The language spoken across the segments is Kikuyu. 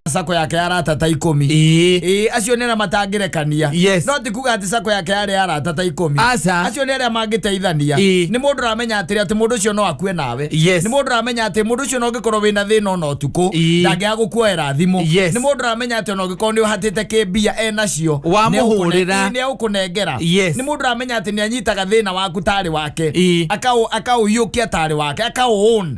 sako yake ya arata ta ikũmi Ĩĩ. Ĩĩ, acio nĩ arĩa matangĩrekania Yes. no ti kuga atĩ sako yake yarĩ ya arata ta ikũmi Aca. acio nĩ arĩa mangĩteithania Ĩĩ. nĩ mũndũ ũramenya atĩrĩ atĩ mũndũ ũcio no akue nawe Yes. nĩ mũndũ ũramenya atĩ mũndũ ũcio no ũngĩkorwo wĩna thĩna ona ũtukũ Ĩĩ. ndangĩaga gũkuoera thimũ Yes. nĩ mũndũ ũramenya atĩ ona ũngĩkorwo nĩ ũhatĩte kĩmbia e nacio Wamũhũrĩra. nĩ egũkũnengera Yes. nĩ mũndũ ũramenya atĩ nĩ anyitaga thĩna waku tarĩ wake Ĩĩ. akaũ- akaũiyũkia tarĩ wake akaũn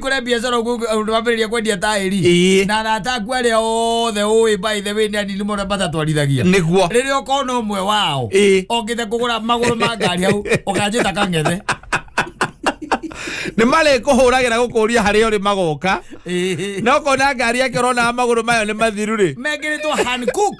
kũre biacara ũguo ũndũ wambĩrĩria kwendia taĩri Ĩĩ. na arata aku arĩa othe ũĩ by the way nĩ anini mũno matatwarithagia nĩguo rĩrĩa ũkona ũmwe wao Ĩĩ. okĩte kũgũra magũrũ ma ngari hau ũkanjĩta kang'ethe nĩ marĩ kũhũragĩra gũkũria harĩa ũrĩ magoka Ĩĩ. na ũkona ngari yake ũronaga magũrũ mayo nĩ mathiru rĩ mekĩrĩtwo Hankook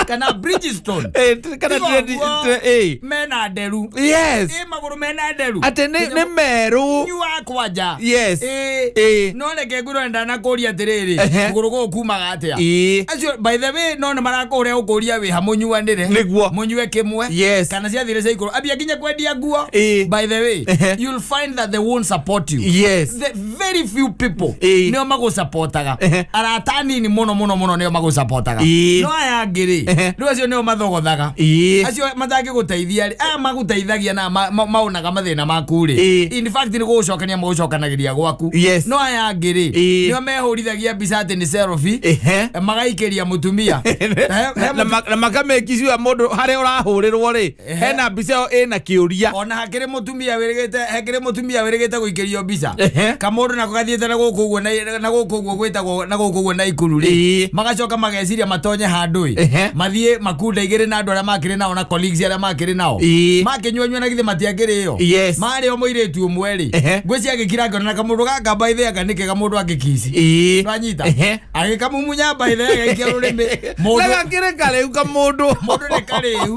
kana bridgestone Eh, t- kana Tiga dread- ũguo, dre- eh. mena nderu yes ĩ magũrũ mena nderu atä nä merå nyu wa kwanja Yes. Ĩ, Ĩ. no reke ngwĩrwo ndanakũria atĩrĩrĩ Ehe. kũgũrũ gũkũ kumaga atĩa Ĩ. acio by the way no nä marakåhå gũkåria wä ha må nyuanä Nĩguo. må nyue kä mwe Yes. kana ciathire cia ikå ambia nginya kwendia nguo Ĩ. by the way Ehe. you'll find that they won't support you yes the very few people Ĩĩ. nĩo magũcapotaga Ehe. arata anini mũno mũno mũno nĩo magũcapotaga Ĩĩ. no aya angĩ-rĩ Ehe. rĩu acio nĩo mathogothaga Ĩĩ. acio matangĩgũteithia rĩ aya magũteithagia na ma- ma- maonaga mathĩna maku rĩ Ĩĩ. in fact nĩ gũgũcokania magũcokanagĩria gwaku Yes. no aya angĩ rĩ Ĩĩ. nĩo mehũrithagia mbica atĩ nĩ selfie Ehe. magaikĩria mũtumia He- he na ma- na makamekiciwa må ndå harä a å rahå rä rwo rä hena mbica ĩyo ĩna kĩũria ona hakĩrĩ mũtumia wĩrĩgĩte hakĩrĩ mũtumia wĩrĩgĩte gũikĩrio mbica Ehe. kamũndũ nako gathiĩte na gũkũ ũguo na- na gũkũ ũguo gwĩtagwo na gũkũ ũguo na ikuru rĩ Ĩĩ. magacoka mageciria matonye handũ ĩ Ehe. mathiĩ makunda igĩrĩ na andũ arĩa makĩrĩ nao na colleagues arĩa makĩrĩ nao Ĩĩ. makĩnyuanyua na githĩ matiakĩrĩyo Yes. marĩ o mũirĩtu ũmwe rĩ Ehe. ngwĩci agĩkira ngona na kamũndũ gaka mbaithĩ aka nĩ kega mũndũ angĩkici Ĩĩ. Ndwanyita? Ehe. agĩkamumunya mbaithe agaikia rũrĩmĩ mũndũ nagakĩrĩ karĩu ka mũndũ mũndũ nĩ karĩu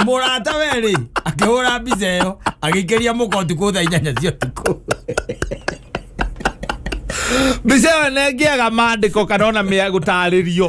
mũrata werĩ akĩhũra mbica ĩyo agĩikĩria mũka ũtukũ thaa inyanya cia ũtukũ mbica ĩyo nengĩaga mandĩko kana ona mĩa gũtarĩrio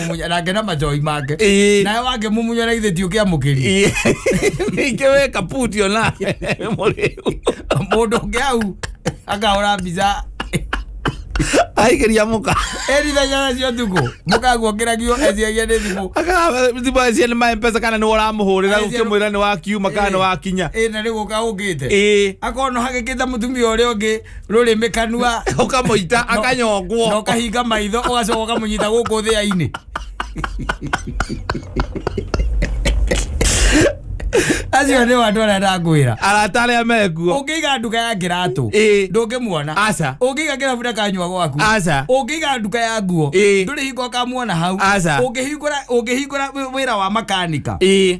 mũmunya nake na majoi make Ĩĩ. nawe wake mũmunya na ithe tiũkia mũkĩri ningä we kaputi ona må rä mũndå ũngĩ au akahũra mbica aigä ria må ka erithenya nacio tukũ mũkaguokĩragio eciagia nĩ thimũ akathimbacia nä maempesa kana nä woramå hå rä ra Aigĩrwo- å kä mwä ra nä wakiuma kana nä wakinya ĩna rĩgũka ũngĩte ä akono hagĩkĩte mũtumia ũrĩa ũngĩ rũrĩmĩ kanua ukamuita na akanyongwo ũkahinga maitho ũgacoka ũkamũnyita gũkũ thĩa-inĩ acio nĩ andũ arĩa ndakwĩra arata arĩa mekuo ũngĩiga nduka ya kĩratũ Ĩĩ. ndũngĩmuona Aca. ũngĩiga kĩrabu na kanyua gwaku Aca. ũngĩiga nduka ya nguo Ĩĩ. ndũrĩ hingo ũkamuona hau Aca. Ũngĩhingũra- ũngĩhingũra wĩ- wĩra wa makanika ĩĩ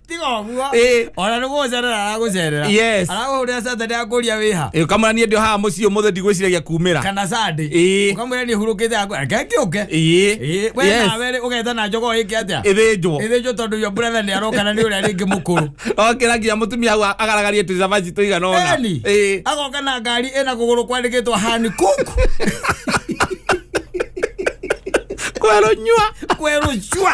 tiga ũguo Eh. ona nĩ gũgũcerera aragũcerera Yes. aragũhũrĩra satani akũria wĩha Eh, kamũra niĩ ndĩ haha mũciĩ ũmũthĩ ndigwĩciragia kumĩra kana sande Eh. ũkamwĩra nĩ hurũkĩte akũ reke ngĩũke Ĩĩ. Ĩĩ, we Yes. nawe rĩ, ũgetha na njogo ĩke atĩa ĩthĩnjwo ĩthĩnjwo tondũ yo brother nĩ aroka na nĩ ũrĩa rĩngĩ mũkũrũ okĩra nginya mũtumia hau agaragarie tũcabaci tũigana ona Eni, Ĩĩ. agoka na ngari ĩna kũgũrũ kwandĩkĩtwo hani kuku kwerũnyua kwerũcua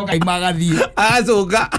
kaima agathiĩ agacoka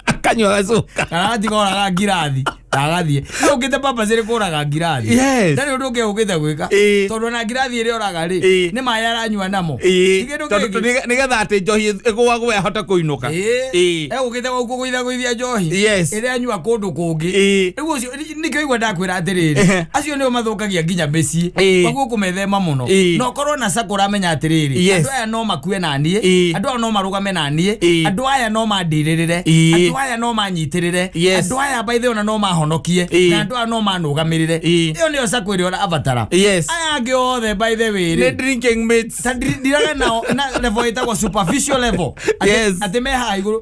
akanyua agacoka kana atiga oraga ngirathi na agathiĩ Rĩu ũngĩte papa cirĩ kũraga ngirathi Yes. ndarĩ ũndũ ũngĩ ũngĩte gwĩka Ĩĩ. tondũ na ngirathi ĩrĩa oraga rĩ Ĩĩ. nĩ maĩ aranyua namo Ĩĩ, Kĩndũ tondũ- kĩngĩ. tondũ nĩge- nĩgetha atä njohi ĩgåagå ahote kå inå ka Ĩĩ. Ĩĩ. egũkĩte gũkũgũitha gũithia njohi Yes. ĩrĩa anyua kũndũ kũngĩ Ĩĩ. rĩu ũcio nĩkĩo igua ndakwĩra atĩrĩrĩ Ehe. acio nĩo mathũkagia nginya mĩciĩ Ĩĩ. koguo kũmethema mũno Ĩĩ. na ũkorwo na sako ũramenya atĩrĩrĩ Yes. andũ aya no makue na niĩ Ĩĩ. andũ aya no marũgame na niĩ Ĩĩ. andũ aya no mandirĩrĩre Ĩĩ. andũ aya no manyitĩrĩre Yes. andũ aya baithe ona no mahonokie Ĩĩ. na andũ aya no manũgamĩrĩre Ĩĩ. ĩyo nĩyo sako ĩrĩa ũrabatara Yes. aya angĩ othe by the way Nĩ rĩ drinking mates. ta ndiraga nao na level ĩtagwo superficial level Atĩ- Yes. atĩ me haha igũrũ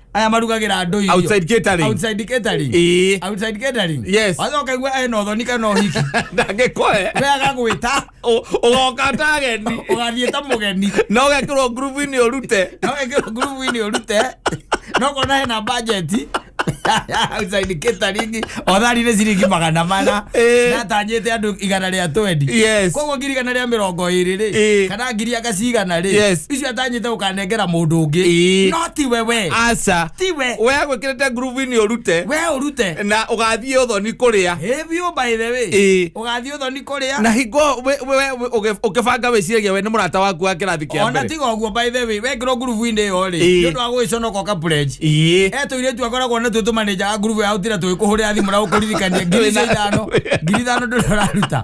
aya marugagĩra andũ irio. Outside catering. Outside catering. Ĩĩ. Outside catering. Yes. Wacoka igua ena ũthoni kana ũhiki ndangĩkoe we agagwĩta Ũ- ũgoka ta ageni ũgathiĩ ta mũgeni na ũgekĩrwo ngurubu-inĩ ũrute no ĩkĩrwo ngurubu-inĩ ũrute no kona hena bajeti outside catering othari nĩ ciringi magana mana Ĩĩ. natanyĩte andũ igana rĩa twendi Yes. koguo ngiri igana rĩa mĩrongo ĩrĩ rĩ Ĩĩ. kana ngiri agacigana rĩ Yes. icio atanyĩte ũkane kũnengera mũndũ ũngĩ Ĩĩ. no ti wewe aca ti we we agwĩkĩrĩte ngurubu-inĩ ũrute we ũrute na ũgathiĩ ũthoni kũrĩa Ĩ biũ by the way Ĩĩ. ũgathiĩ ũthoni kũrĩa na hingo we- we- we- we- ũgĩ- ũkĩbanga wĩciragia we nĩ mũrata waku wa kĩrathi kĩa ona mbere tiga ũguo by the way wekĩrwo ngurubu-inĩ ĩyo rĩ Ĩĩ. nĩ ũndũ wa gũgĩconoka ũkapurenji ĩĩ etå irä tu akoragwo nä twä tå manenja a ngurubu ya utira tå kå hå rä ra thimå na gå kå ririkania ngiri icio ithano ngiri ithano ndå raruta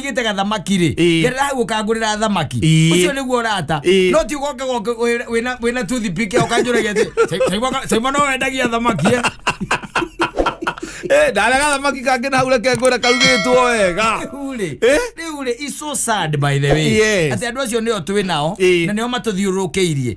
igite gathamaki ri Ĩĩ. gerera hau ukangurira thamaki Ĩĩ. ucio niguo urata Ĩĩ. no ti ugoke goke wĩ- wĩna wĩna toothpick ya ukanjuragia ati saimo no wendagia thamaki eh?" Eh, ndarega thamaki kangä na hau reke ngwä ra karugä two wega Rĩu rĩ, Eh? rĩu rĩ, it's so sad by the way Yes. atĩ andå acio nĩo twĩ nao Ĩĩ. na nĩo matũthiũrũrũkĩirie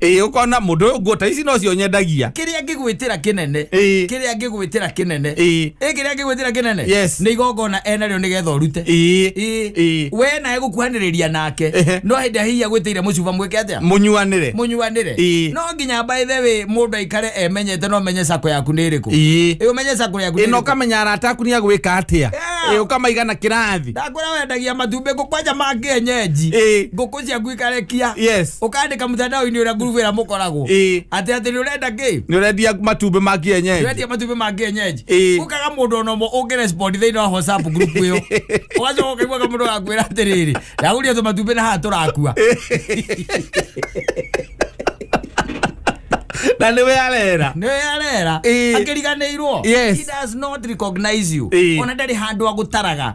ĩĩ ũkona mũndũ ũyũ nguo ta ici nocio nyendagia kĩrĩa ngĩgwĩtĩra kĩnene Ĩĩ. kĩrĩa ngĩgwĩtĩra kĩnene Ĩĩ. Ĩĩ, kĩrĩa ngĩgwĩtĩra kĩnene Yes. nĩ igongona enarĩo nĩ getha ũrute Ĩĩ. Ĩĩ. Ĩĩ. we nawe gũkuhanĩrĩria nake Ehe. no hĩndĩ ĩrĩa hihi agwĩtĩire mũcuba mwĩke atĩa mũnyuanĩre mũnyuanĩre Ĩĩ. no nginya mbaithe wĩ mũndũ aikare emenyete no menye sako yaku nĩ ĩrĩkũ Ĩĩ. Ĩĩ, ũmenye sako yaku nĩ ĩno ĩrĩkũ. ũkamenya arata aku nĩ agwĩka atĩa Yeah. Ĩĩ, ũkamaiga na kĩrathi ndakwĩra wendagia matumbĩ ngũkwanja ma kĩenyenji Ĩĩ. ngũkũ cia guikarekia Yes. ukandika mutandao-ini uria ngurubu ira mukoragwo Ĩĩ. ati ati ni urenda ki nä rendia matumbä ma kienyenji wetia matumbĩ ma kienyeji Ĩĩ. ukaga mũndũ ona ũmwe ũngĩrespond thĩinĩ wa whatsapp group ĩyo ũgacoka ũkaiguaga mũndũ wakwĩra atĩrĩrĩ ndagũria tũ matumbĩ na haha tũrakua na nä we arera nĩwe arera Ĩĩ. akĩriganĩirwo Yes. he does not recognize you Ĩĩ. ona ndarĩ handũ agũtaraga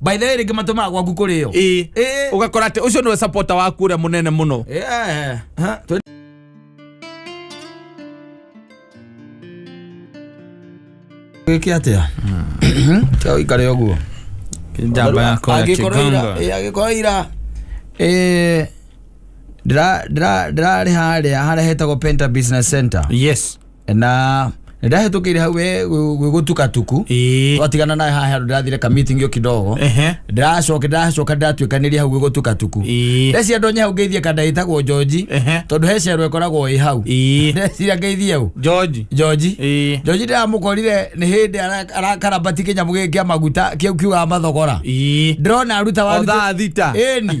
by the way rĩngĩ matũmaga gwaku kũrĩo ĩĩ Ĩĩ. ũgakora atĩ ũcio nĩwe sapota waku ũrĩa mũnene mũno Yeah. Ha, tũ- gĩke atĩa Tiga ũikare ũguo njamba yakwa ya Angĩkorwo ira- kĩgongo ĩ, angĩkorwo ira ĩ, ndĩra- ndĩra- ndĩrarĩ harĩa harĩa hetagwo penta business center yes na ndahätũkĩire hau we gwĩgũtukatuku Ĩĩ. twatigana nayo haha handũ ndĩrathire ka meeting yo kidogo Ehe. ndĩracoka ndĩracoka ndĩratuĩkanĩria hau gwĩgũtukatuku Ĩĩ. ndeciria ndonye hau ngeithie kanda ĩtagwo njonji Ehe. tondũ he cerwa ĩkoragwo ĩ hau Ĩĩ. ndeciria ngeithie hau George. njonji Ĩĩ. njonji ndĩramũkorire nĩ hĩndĩ ara- arakarambati kĩnyamũ gĩkĩ kĩa maguta kĩu kiugaga mathogora Ĩĩ. ndĩrona aruta waru Otha thita. ĩni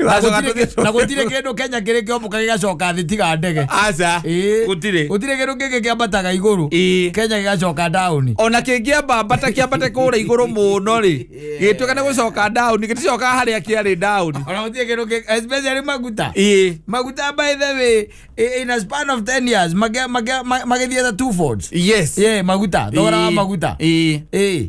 Wacoka tũthiĩ- na gũtirĩ kĩndũ kenya kĩrĩ kĩombũka gĩgacoka thĩ tiga ndege aca Ĩĩ. gũtirĩ gũtirĩ kĩndũ kĩngĩ kĩambataga igũrũ Ĩĩ. kenya gĩgacoka ndaũni ona kĩngĩamba mbata kĩambate kũrĩa igũrũ mũno rĩ gĩtuĩka nĩ gũcoka ndaũni gĩticokaga harĩa kĩarĩ ndaũni ona gũtirĩ kĩndũ kĩ- especially maguta ĩĩ maguta by the way i- in a span of 10 years mage- mage- ma- magĩthiĩte two folds yes yeah maguta thogora wa Ĩĩ. maguta Ĩĩ. Ĩĩ.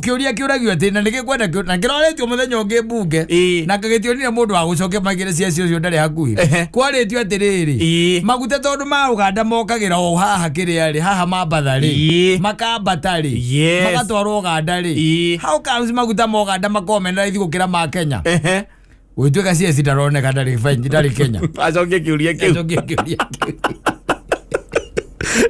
kiuria kiuragio ati na nigikwenda kiu- na kiroretio muthenya ungi mbunge Ĩĩ. na kagitionire mundu wa gucokia magire cia cio cio ndari hakuhi Ehe. kwaritio atiriri Ĩĩ. maguta tondu ma uganda mokagira o haha kiria ri haha mambatha ri Ĩĩ. makambata ri Yes. magatwarwo uganda ri Ĩĩ. how comes maguta ma uganda makomena raithi gukira ma kenya Ehe. gwĩtuĩka cia citaroneka ndarĩ benji ndarĩ kenya acokie kiuria kiu Njokie kĩũria kĩu.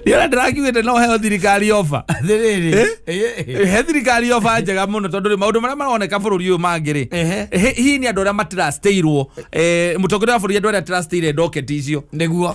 nĩona ndĩrakiugĩte no heo thirikari oba Atĩrĩrĩ, Eh? eh, eh. he thirikari oba njega mũno tondũ rĩ maũndũ marĩa maroneka bũrũri ũyũ mangĩ rĩ Ehe. hi- hihi nĩ andũ arĩa matirasteirwo mũtongoria wa bũrũri andũ arĩa atirasteire ndoketi icio nĩguo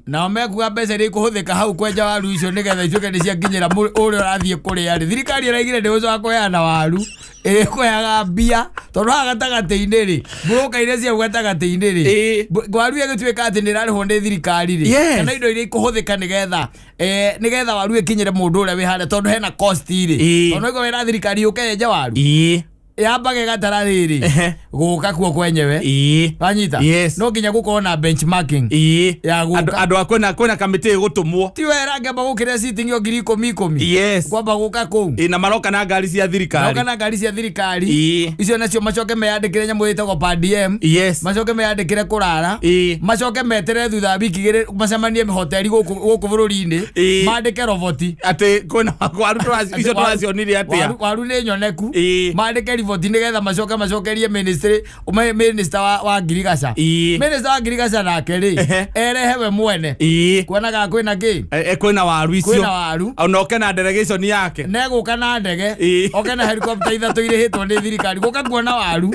nao mekuga mbeca iria ikũhũthĩka hau kwenja waru icio nĩgetha icuĩke nĩ ciakinyĩra mũrĩ- ũrĩa ũrathiĩ kũrĩa rĩ thirikari ĩraigire ndĩgũcoka kũheana waru ĩrĩkũheaga mbia tondũ haha gatagatĩ-inĩ rĩ mburoka iria ciau gatagatĩ-inĩ rĩ Ĩĩ. mbu- waru ĩgĩtuĩka atĩ nĩ ĩrarĩhwo nĩ thirikari rĩ Yes. kana indo iria ikũhũthĩka nĩgetha eh, nĩgetha waru ĩkinyĩre mũndũ ũrĩa wĩ harĩa tondũ hena cost rĩ Ĩĩ. tondũ ĩgo wĩra thirikari yũke yenje waru ii yamba gegatara riri Ehe. guka kuo kwenyewe Ii. wanyita Yes. no nginya gukorwo na benchmarking Ii. Ya guka. Andũ- andũ a kwĩna kwĩna kamĩtĩ ĩgũtũmwo ti wera ngamba gukira sitingi o ngiri ikumi ikumi yes kwamba guka kuu Ĩ, na maroka na ngari cia thirikari noka na ngari cia thirikari Ii. icio nacio macoke meyandikire nyamå ä tagwo padm yes macoke meyandikire kå rara Ii. macoke metere thutha wa wiki igä rä macemanie hoteli gå kå bå rå ri-inä Ii. mandä ke roboti atä kwĩna arutwo acio tũracionire atĩa waru nĩ nyoneku Ĩĩ. mandĩke riboti nĩgetha macoke macokerie ministry ume- minister wa, wa ngirigaca Ĩĩ. minister wa ngirigaca nake rĩ Ehe. erehe we mwene ĩĩ kuonaga kwĩna kĩ E- e, kwĩna waru icio kwĩna waru ona oke na delegation yake negũka na ndege Ĩĩ. oke na helikopta ithatũ irĩhĩtwo nĩ thirikari gũka kuona waru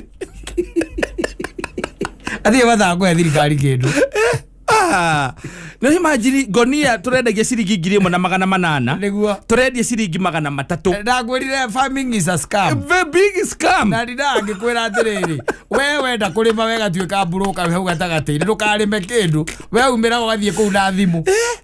athiĩ mathangũ ya thirikari kĩndũ Ah, no imagine gonia turendagia ciringi ngiri ĩmwe na magana manana Nĩguo. turendia ciringi magana matatũ ndakwĩrire farming is a scam the big scam na ndina angĩkwĩra atĩrĩrĩ we wenda kũrĩma wegatuĩka mburũka we hau gatagatĩ-inĩ ndũkarĩme kĩndũ we umĩra ũgathiĩ kũu na thimũ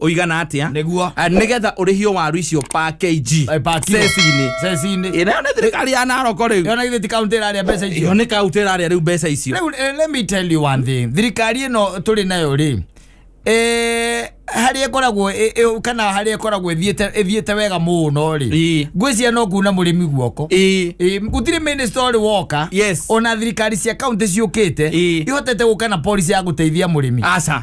ũigana atia Nĩguo. Ah, nĩgetha ũrĩhio waru icio pa kg Eh, pa kilo. ceci-inĩ ceci-inĩ ĩrĩa nĩ thirikari ya naroko rĩu yona githĩ ti kaunti ĩrarĩa mbeca icio ĩyo nĩ kaunti ĩrarĩa rĩu mbeca icio Rĩu, eh, let me tell you one thing thirikari ĩno tũrĩ nayo rĩ eh, harĩa ĩkoragwo ĩ- ĩ- kana harĩa ĩkoragwo ĩthiĩte ĩthiĩte wega mũno rĩ Ii. ngwĩcia no kuna mũrĩmi guoko Ĩĩ. Ĩĩ, gũtirĩ minister ũrĩ woka Yes. ona thirikari cia kaunti ciũkĩte Ĩĩ. ihotete gũka na policy ya gũteithia mũrĩmi aca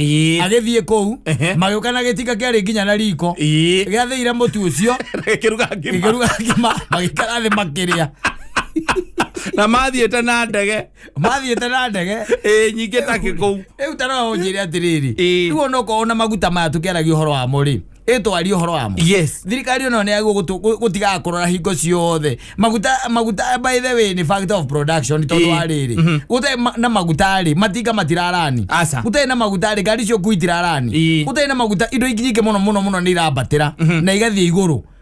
Ii. agĩthiĩ kũu Ehe. magĩũka na gĩtinga kĩarĩ nginya na riko Ii. gĩathĩire mũtu ũcio Gĩkĩruga ngima. gĩkĩruga ngima magĩikara thĩ makĩrĩa na mathiĩte na ndege mathiĩte na ndege ĩĩ nyingĩ takĩ kũu rĩu tara ũnjĩre atĩrĩrĩ Ĩĩ. rĩu onokorwo na maguta maya tũkĩaragia ũhoro wamo rĩ ĩtwarie ũhoro wamo yes thirikari ĩno nĩ yagwo gũtigaga kũrora hingo ciothe maguta maguta by the way nĩ factor of production tondũ Ĩĩ. wa rĩrĩ Mhm. gũtarĩ ma- na maguta rĩ matinga matirarani Aca. gũtarĩ na maguta rĩ ngari cio ngui itirarani Ĩĩ. gũtarĩ na maguta indo ingĩ nyingĩ mũno mũno mũno nĩ irambatĩra na igathiĩ igũrũ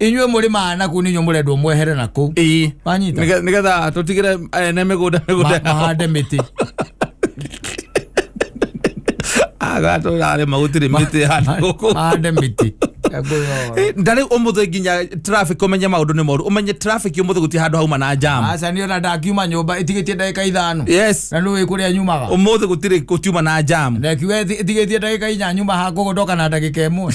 inyuĩ mũrĩ maana na kũu nĩ inyuĩ mũrendwo mwehere na kũu ii wanyita Nĩge- nĩgetha tũtigĩre ene mĩgũnda Ma- mĩgũnda yao. mahande mĩtĩ agatũrarĩma gũtirĩ mĩtĩ hana gũkũ mahande mĩtĩ Ngũyora. ndarä å må thä nginya traffic å menye maå ndå nä moru å menye traffic å må thä gå tie handå hauma na jam aca nä ona ndakiuma nyåmba ĩtigĩtie ndagĩka ithano yes na nä wä kå rä a nyumaga å må thä gå tirä gå tiuma na jam na kiuga ĩtigĩtie ndagĩka inya nyuma hakogo ndoka na ndagĩka ĩmwe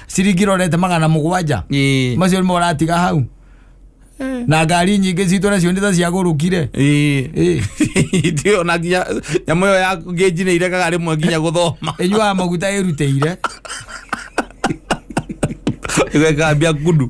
ciringi rorete magana mũgwanja Ĩĩ. macio nĩmo ũratiga hau na ngari nyingĩ citũ nacio nĩ ta ciagũrũkire Ĩĩ. Ĩĩ. Ithuĩ ona nginya nyamå ä yo ya ngänji nä irekaga rä mwe nginya gå thoma ĩnyuaga maguta ĩrutĩire ĩgekambia kundu